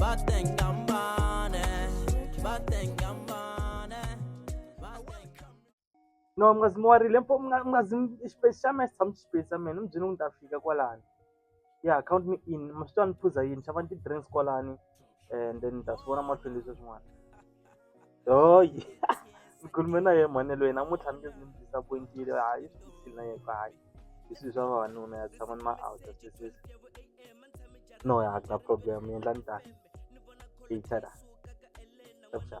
batengambane batengambane no mungazi muwarile mpo mungazi xipesi xa mesa tshama xipesi xa mina mubyini ku ni ta fika kwalani ya count me in maswi twa ni phuza yini xavani ti-drinks kwalani and then ni ta swi vona mahlweni leswi swin'wana ni khulume na yena mhani yaloye namuntlha ni nge ni n'wi disappoint-ile hayi i swi vutshila na yena ku hayi i swilo swa vavanuna ya tshama ni ma out-a sweswi no ya a ku na problem ni endla ni ta ta .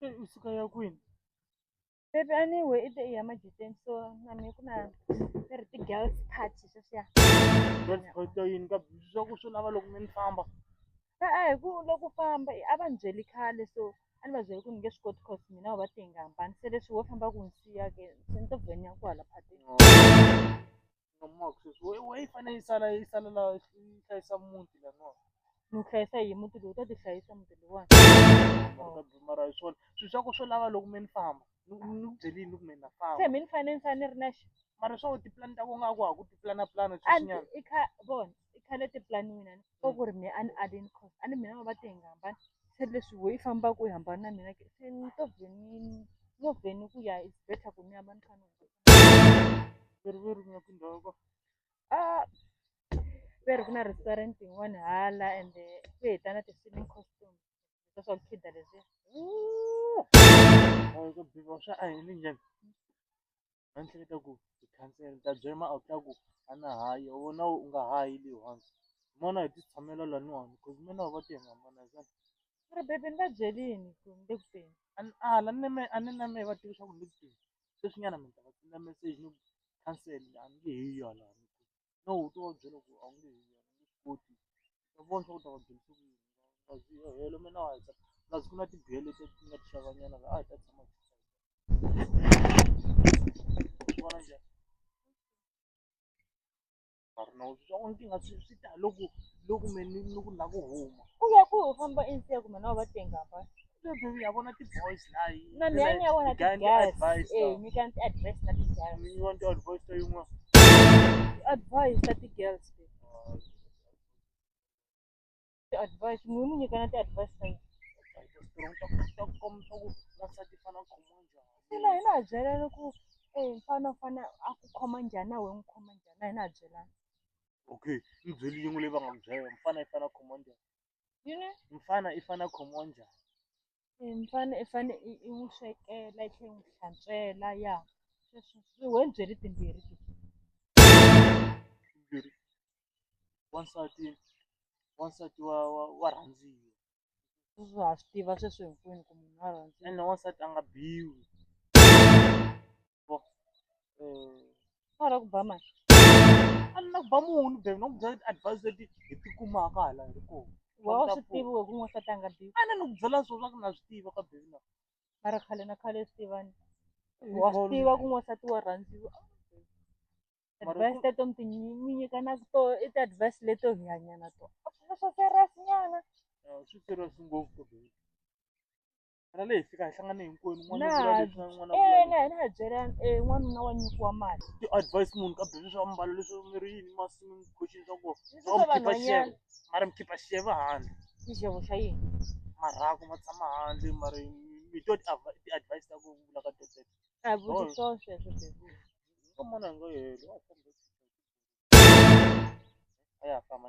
Se u suka ya kwini Baby anyway i te i ya majuteni so na mina ku na ni ri ti-girls party sweswiya girls party ya yini ka busy swa ku swi lava loko mi ni famba e-e hi ku loko u famba i- a va ni byeli khale so a ni va byeli ku ni nge swi koti cause mina u va te hi nga hambani se leswi wo famba ku ni siya ke se ni to vhenya kwala phatini nga maka sweswi we we yi fanele yi sala yi sala la yi hlayisa muti laniwani ni hlayisa hi muti lowu ta ti hlayisa muti lowani mara ta- mara hi swona swilo swa ku swo lava loko me ni famba ni ku ni ku byele yini loko me ni na se famba mi ni fanele ni fanele ni ri na xi mara swa ku tipulani ta ku nga ku ha ku tipulanapulana a sweswinyana i kha vona i khale tipulani mina ni swi tiva ku ri me a ni alini cos a ni mina va va te hi nga hambani se leswi wo yi fambaka u yi hambani na mina ke se ni to vhe ni no vhe ni ku ya is better ku ni hamba ni kha ni riveriwile tindhawu ko a ve ri ku na restaurant yin'wana hala ende ku heta na ti-swimming costume swa swa ku khida leswiya Hayi, ka bika swa a hi ni njhani a ni hleketa ku ti cancel ta byela ma outla ku a na hayi u vona u nga hayi leyi once n'wana hi ti tshamela laniwani cause mina wa va ti nga mana zan mara bebe ni va byelini ku ni le ku teni a ni ala ni me a ni na me va tiva swa ku ni le ku teni sweswinyana mina ta va senda message ni ku cancel a ni nge he yi yona no u to va byela ku a wu nge he yena u nge swi koti ta vona swa ku ta va byelisa ku yini va zi helo mina wa heta plus ku na tibele leti ti nga ti xavanyana la a hi ta tshama hi vona njhani mara na u swa ku ni tinga swi swi ta loko loko me ni ni ku na ku huma Ku ya ku u famba insiya kumbe na va tengamba. Problem ya vona ti boys la yi. Na mi anya vona ti Gani guys. advice Eh, now. mi kan ti advice ta ti guys. You want to advise to you more? Advice ta ti girls. babe. Ti advice, mi mi nyikana ti advice ta yini? Ina hi na byelana ku eh mfana u fane a ku khoma njhani na wehe n'wi khoma njhani na hi na byelana. Okay, mbyeli yin'we leyi va nga ku byela yona, mfana i fana command. yini mfana i fana khomiwa njhani Eh, mfana i fane i i n'wi swekela i tlhela i n'wi hlantswela ya sweswo swi we byi ri timbirhi ti timbirhi wansati wansati wa wa wa rhandziwa sweswo ha swi tiva sweswo hinkwenu ku munhu wa rhandziwa ene wansati a nga biwi Hala ku ba mani. A ni na ku ba munhu babe, no ku byela ti-advise leti hi ti kumaka hala hi ri kona. Wa u swi tivi wehe ku n'wansati a nga biwi. A ni ni ku byela swona swa ku na swi tiva ka babe na. Mara khale na khale swi tivani. Wa swi tiva ku n'wansati wa rhandziwa. Advise teto mi ti mi nyikanaka tona i ti-advise leto hi hanya na tona. A swi na swa serious nyana. Swi serious ngopfu babe. Ra leyi fika hi hlangane hinkwenu n'wana Na- vula leswi na n'wana vula Eh, na hina ha byela eh, n'wanuna wa nyikiwa mali leswi. Ti advice munhu ka bebe swa mbalo leswi mi ri yini masimu mi khoxini swa kona. Ni Swa swi ku khipa vanhwanyana. xevo. Mara mi khipa xevo handle. xixevo xa yini Marhaku ma tshama handle mara mi twa ti advi- ti advice ta ku vula ka tete. a hi Oh. vutisa sweswo bebe Ka mona hi nga helo. a hi fambi. A ya ha famba.